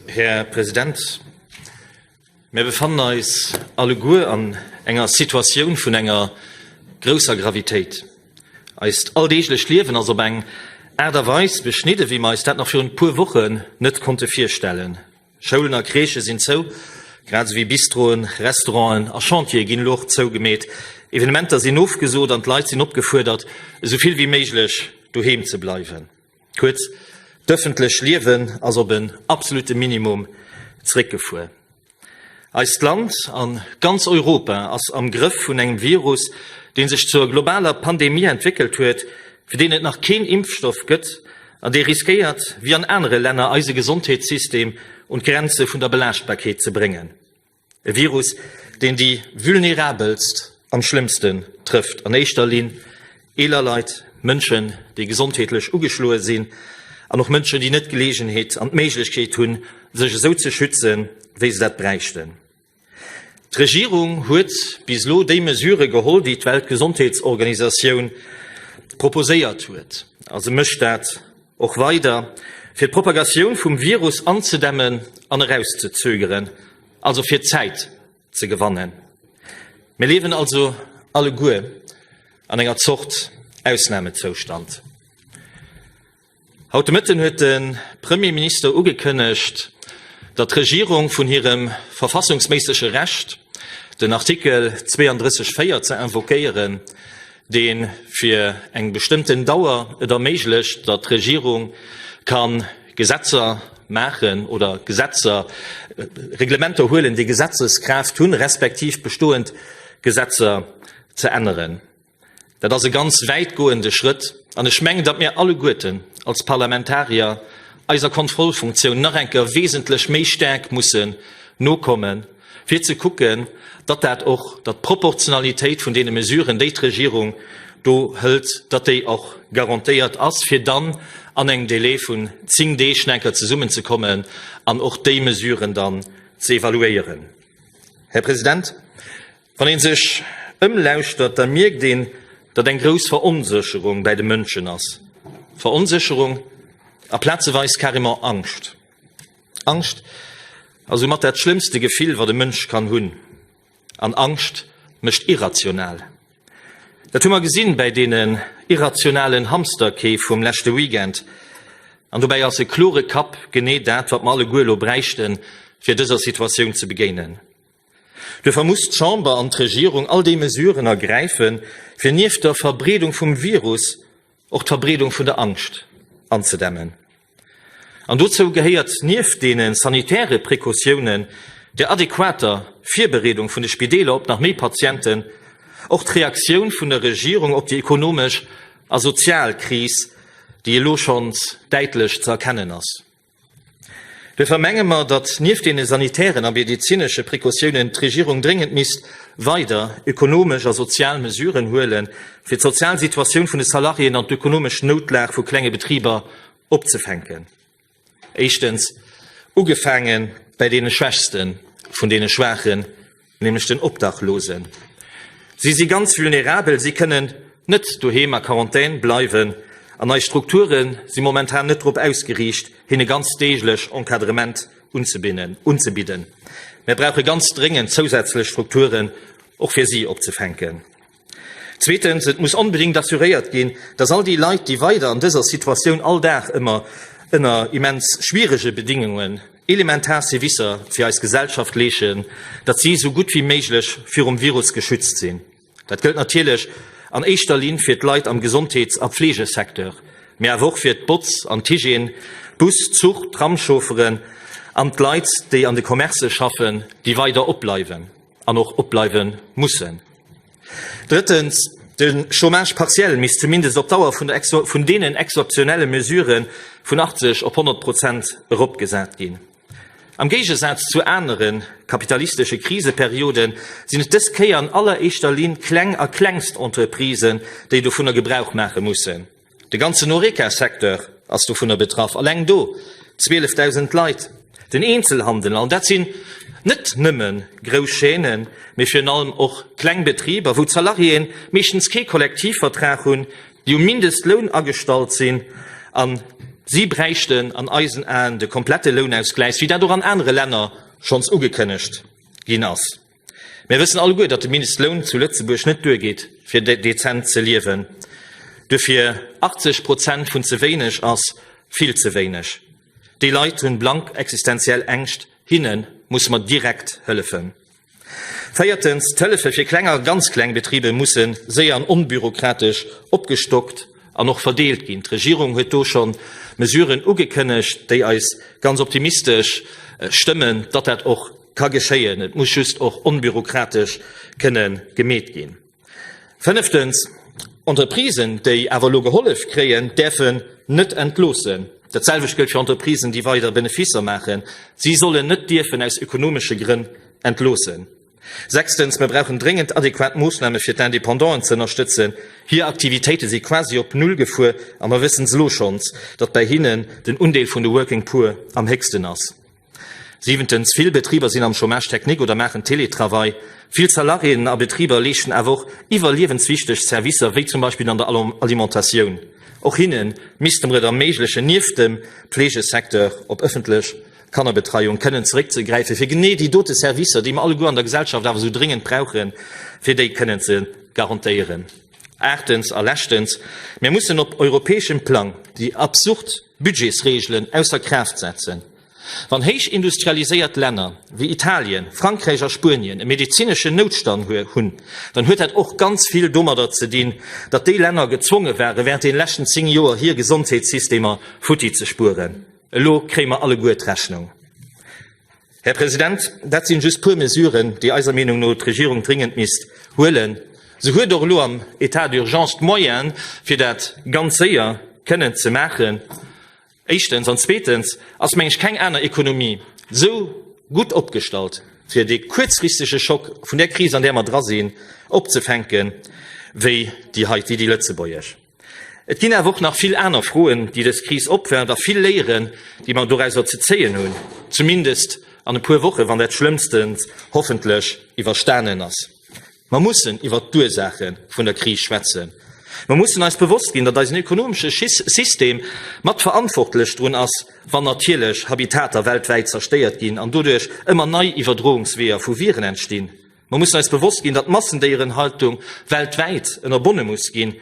Här President, mir befannen eis alleguer an enger Situatioun vun enger grousser Gravitéit. Eist alldeeglecht Liewen ass op eng Aart a Weis beschnidden, wéi mer eis dat nach virun e puer Wochen net konnte virstellen. Schoulen a Crèchë sinn zou, grad esou wéi Bistroen, Restauranten a Chantiere ginn elo och zougemeet. Evenementer sinn ofgesot an d'Leit sinn opgefuerdert, esou vill wéi méiglech doheem ze bleiwen. Kuerz, d'ëffentlech Liewen ass op en absolute Minimum zréckgefuer. Eist Land an ganz Europa ass am Grëff vun engem Virus, dee sech zur globaler Pandemie entwéckelt huet, fir deen et nach keen Impfstoff gëtt an dee riskéiert, wéi an anere Länner, eise Gesondheetssystem un d'Grenze vun der Belaaschtbarkeet ze bréngen. E Virus, deen déi Vulnerabelst am schlëmmsten trëfft, an éischter Linn eeler Leit, Mënschen, déi gesondheetlech ugeschloe sinn, an och Mënschen, déi net d'Geleegenheet an d'Méiglechkeet hunn, sech esou ze schützen, wéi se dat bräichten. D'Regierung huet bis elo déi Mesurë geholl, déi d'Weltgesondheetsorganisatioun proposéiert huet, a se mécht dat och weider fir d'Propagatioun vum Virus anzedämmen an erauszezögeren, also fir Zäit ze gewannen. Mir liewen also alleguer an enger Zort Ausnamezoustand. Haut de Mëtten huet de Premierminister ugekënnegt, datt d'Regierung vun hirem verfassungsméissege Recht, den Artikel 32 4 ze invoquéieren, dee fir eng bestëmmten Dauer et erméiglecht, datt d'Regierung ka Gesetzer maachen oder Gesetzer, Reglementer huelen, déi Gesetzeskraaft hunn, respektiv bestoend Gesetzer ze änneren. Dat ass e ganz wäitgoende Schrëtt, an ech mengen, datt mir alleguerten als Parlamentarier eiser Kontrollfunktioun nach eng Kéier wesentlech méi staark mussen nokommen, fir ze kucken, datt dat och, datt d'Proportionalitéit vun deene Mesuren, déi d'Regierung do hëlt, datt déi och garantéiert ass, fir dann an engem Délai vun zéng Deeg nach eng Kéier zesummenzekommen an och déi Mesuren dann ze evaluéieren. Här President, wann ee sech ëmlauschtert, da mierkt een, datt eng grouss Veronsécherung bäi de Mënschen ass, Veronsécherung a plazeweis carrément Angscht. Angscht ass soumat dat schlëmmste Gefill, wat e Mënsch kann hunn. An Angscht mécht irrational. Dat hu mer gesinn bäi deenen irrationalen Hamsterkeef vum leschte Weekend. An dobäi ass e klore Kapp genee dat, wat mer alleguer elo bräichten, fir dëser Situatioun ze begéinen. Duerfir muss d'Chamber an d'Regierung all déi Mesuren ergräifen, fir nieft der Verbreedung vum Virus och d'Verbreedung vun der Angscht anzedämmen. An dozou gehéiert nieft deene sanitäre Precautiounen, der adequater Virbereedung vun de Spideeler op nach méi Patienten, och d'Reaktioun vun der Regierung op déi ekonomesch a sozial Kris, déi elo schonns däitlech ze erkennen ass. Duerfir menge mer, datt nieft deene sanitären a medezinesche Precautiounen d'Regierung dréngend misst weider ekonomesch a sozial Mesuren huelen, fir d'sozial Situatioun vun de Salariéen an d'ökonomesch Noutlag vu klenge Betriber opzefänken. Éischtens, ugefaange bei deene Schwächste vun deene Schwaachen, nämlech den Obdachlosen. Si si ganz vulnerabel, si kënnen net doheem a Quarantän bleiwen an eis Strukture si momentan net drop ausgeriicht, hinne ganz deeglech Encadrement unzebidden. Mir brauche ganz dréngend zousätzlech Strukturen och fir si opzefänken. Zweetens, et muss onbedéngt assuréiert ginn, dass all déi Leit, déi weider an dëser Situatioun all Dag ëmmer ënner immens schwierege Bedingungen elementar Servicer fir eis Gesellschaft leeschen, datt si esou gutt wéi méiglech virum Virus geschützt sinn. Dat gëllt natierlech an éischter Linn fir d'Leit am Gesondheets a Fleegesecteur, mee awer och fir d'Botz an d'Hygiène, d'Bus-, Zuch-, Tramschaufferen an d'Leit, déi an de Commercë schaffen, déi weider opbleiwen. an och opbleiwe mussen. Drëttens, De Chômage partiel misst zumindest op d'Dauer vun, vun deenen exzeptionelle Mesuren vun 80 op 100 Prozent eropgesat ginn. Am Géigesaz zu anere kapitalistesche Kriseperioden sinn et dës Kéier an alleréischter Linn kleng a Klengstentreprisen, déi dovunner Gebrauch maache mussen. De ganzen Horeca-Secteur ass dovunner betraff, alleng do 12.000 Leit. Den Eenzelhandel an dat sinn net nëmme grouss Chaînen, mee virun allem och kleng Betriber, wou d'Salariéen meeschtens kee Kollektivvertrag hunn, déi um Mindestloun agestallt sinn. A si bräichten an eisen Aen de komplette Lounausgläich, wéi dat och an anere Länner schonns ugekënnegt ginn ass. Mir wëssen alleguer, datt de Mindestloun zu Lëtzebuerg net duergeet, fir dezent ze liewen. Duerfir 80 Prozent vun ze wéineg ass vill ze wéineg. Déi Leit hunn blank existenziell Ängscht. Hinne musse mer direkt hëllefen. Véiertens, d'Hëllefe fir kleng a ganz kleng Betribe musse séier an onbürokratesch opgestockt an och verdeelt ginn. D'Regierung huet do scho Mesuren ugekënnegt, déi eis ganz optimistesch stëmmen, datt dat och ka geschéien. Et muss just och onbürokratesch kënne gemeet ginn. Fënneftens, Entreprisen, déi awer elo gehollef kréien, däerfen net entloossen. Dat selwecht gëllt fir Entreprisen, déi weider Beneficer maachen. Si sollen net dierfen aus ökonomesche Grënn entloossen. Sechstens, Mir brauchen dréngend adequat Moossname fir d'Independanten ze ënnerstëtzen. Hir Aktivitéite si quasi op Null gefuer a mer wëssen es elo schonns, datt bei hinnen den Undeel vun de Working Poor am héchsten ass. Siwentens, Vill Betriber sinn am Chômage technique oder maachen Teletravail. Vill Salariéen a Betriber leeschten awer och iwwerliewenswichteg Servicer, wéi zum Beispill an der Alimentatioun. Och hinne misste mer et erméiglechen, nieft dem Pflegesecteur op ëffentlech Kannerbetreiung kënnen zeréckzegräifen, fir genee déi dote Servicer, déi mer alleguer an der Gesellschaft awer esou dréngend brauchen, fir déi kënnen ze garantéieren. Aachtens a leschtens, Mir mussen op europäeschem Plang déi absurd Budgetsreegelen ausser Kraaft setzen. Wann héich industrialiséiert Länner wéi Italien, Frankräich a Spuenien e medezineschen Noutstand hunn, dann huet dat och ganz vill domadder ze dinn, datt déi Länner gezwonge waren, während deene leschten zéng Joer hir Gesondheetssystemer futti ze spueren. Elo kréie mer alleguer d'Rechnung. Här President, dat sinn just puer Mesuren, déi eiser Meenung no d'Regierung dringend misst huelen. Se huet och elo am État d'urgence d'Moyene fir dat ganz séier kënnen ze maachen. Éischtens. An zweetens ass, meng ech, keng aner Ekonomie esou gutt opgestallt, fir dee kuerzfristege Schock vun där Kris, an där mer dra sinn, opzefänken, wéi déi heiti, déi lëtzebuergesch. Et ginn awer och nach vill aner Froen, déi dës Kris opwerft, a vill Léieren, déi mer doräuser ze zéien hunn, zumindest an e puer Wochen, wann dat Schlëmmstent hoffentlech iwwerstanen ass. Mer mussen iwwert d'Ursaache vun der Kris schwätzen. Mer mussen eis bewosst ginn, datt eisen ökonomesche System mat verantwortlech drun ass, wann natierlech Habitater weltwäit zerstéiert ginn an doduerch ëmmer nei Iwwerdroungsweeër vu Viren entstinn. Mer mussen eis bewosst ginn, datt d'Massendéierenhaltung weltwäit ënnerbonne muss ginn,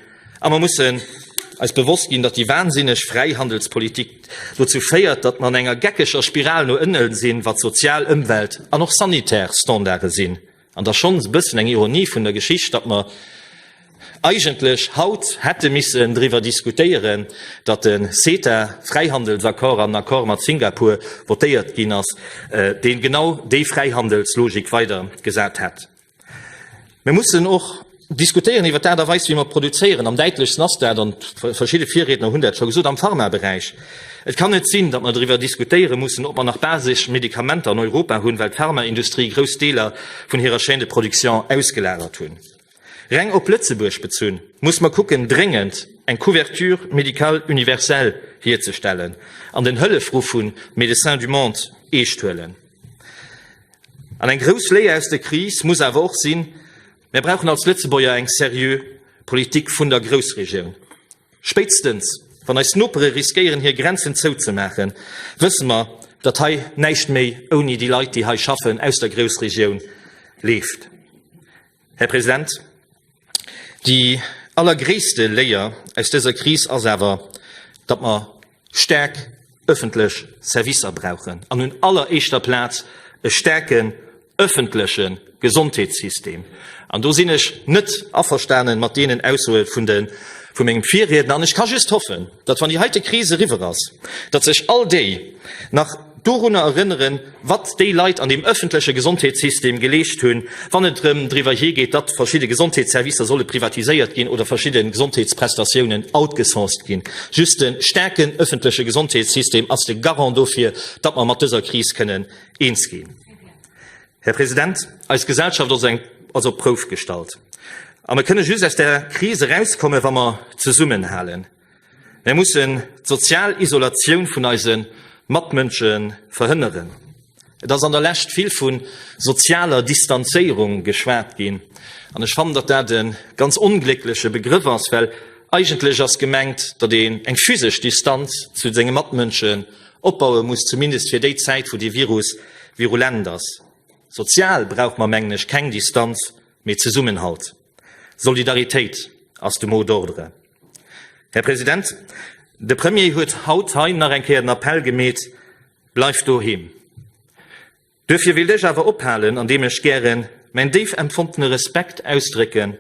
a mer mussen eis bewosst ginn, datt déi wansinneg Fräihandelspolitik dozou féiert, datt mer an enger geckeger Spiral no ënnen sinn, wat sozial, Ëmwelt an och sanitär Standarde sinn. An et ass schonns e bëssen eng Ironie vun der Geschicht, datt mer, eigentlech haut hätte missen driwwer diskutéieren, datt de CETA, Fräihandelsaccord an den Accord mat Singapur, votéiert ginn ass, dee genau déi Fräihandelslogik weidergesat hätt. Mir mussen och diskutéieren iwwer d'Aart a Weis, wéi mer produzéieren. Am däitlechsten ass dat, an verschidde Virriedner hunn dat scho gesot, am Pharmaberäich. Et kann net sinn, datt mer driwwer diskutéiere mussen, ob mer nach basesch Medikamenter an Europa hunn, well d'Pharmaindustrie grouss Deeler vun hirer Chaîne de production ausgelagert hunn. Reng op Lëtzebuerg bezunn, muss mer kucken, dréngend eng Couverture médicale universelle hierzestellen an den Hëllefruff vu Médecins du Monde eescht huelen. An eng grouss Léier aus der Kris muss awer och sinn, Mir brauchen als Lëtzebuerger eng seriö Politik vun der Groussregioun. Spéitstens wann eis Nopere riskéieren, hir Grenzen zouzemaachen, wësse mer, datt hei näischt méi ouni déi Leit, déi hei schaffen, aus der Groussregioun leeft. Här President, déi allergréisste Léier aus dëser Kris ass awer, datt mer staark öffentlech Servicer brauchen an un alleréischter Plaz e staarken öffentleche Gesondheetssystem. An do sinn ech net averstane mat deenen Aussoe vum mengem Virriedner an ech ka just hoffen, Datt wann déi heite Kris eriwwer ass, datt sech all déi nach dorunner erënneren, wat déi Leit an deem ëffentleche Gesondheetssystem geleescht hunn, wann et erëm driwwer hir geet, datt verschidde Gesondheetsservicer solle privatiséiert ginn oder verschidde Gesondheetsprestatiounen outgesourced ginn. Just e staarke ëffentleche Gesondheetssystem ass de Garant dofir, datt mer mat dëser Kris kënnen eens ginn. Här President, eis Gesellschaft ass eng ass op d'Prouf gestallt. A mer kënne just aus der Kris erauskommen, wa mer zesummenhalen. Mer mussen d'sozial Isolatioun vun eise Matmënsche verhënneren. Et ass an der Lescht vill vu sozialer Distanzéierung geschwat ginn. An ech fannen, datt dat e ganz ongléckleche Begrëff ass, well eigentlech ass gemengt, datt een eng physesch Distanz zu senge Matmënsche Opbaue muss, zumindest fir déi Zäit wou de Virus virulent ass. Sozial brauch mer mengen ech keng Distanz, mee Zesummenhalt. Solidaritéit ass de Mot d'ordre. Här President, de Premier huet haut hei nach eng Kéier den Appell gemeet, Bleift doheem. Duerfir wéilt ech awer ophalen, andeem ech gären mäin déif empfondene Respekt ausdrécke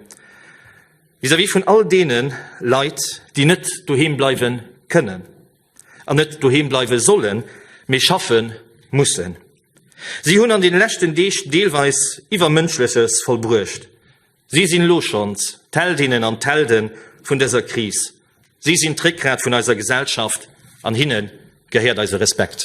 vis-à-vis vun all deene Leit, déi net doheem bleiwe kënnen an net doheem bleiwe sollen, mee schaffe mussen. Si hunn an deene leschten Deeg deelweis Iwwermënschleches vollbruecht. Si sinn elo schonns d'Heldinnen an d'Helde vun dëser Kris. Si sinn d'Réckgrat vun eiser Gesellschaft, an hinne gehéiert eise Respekt.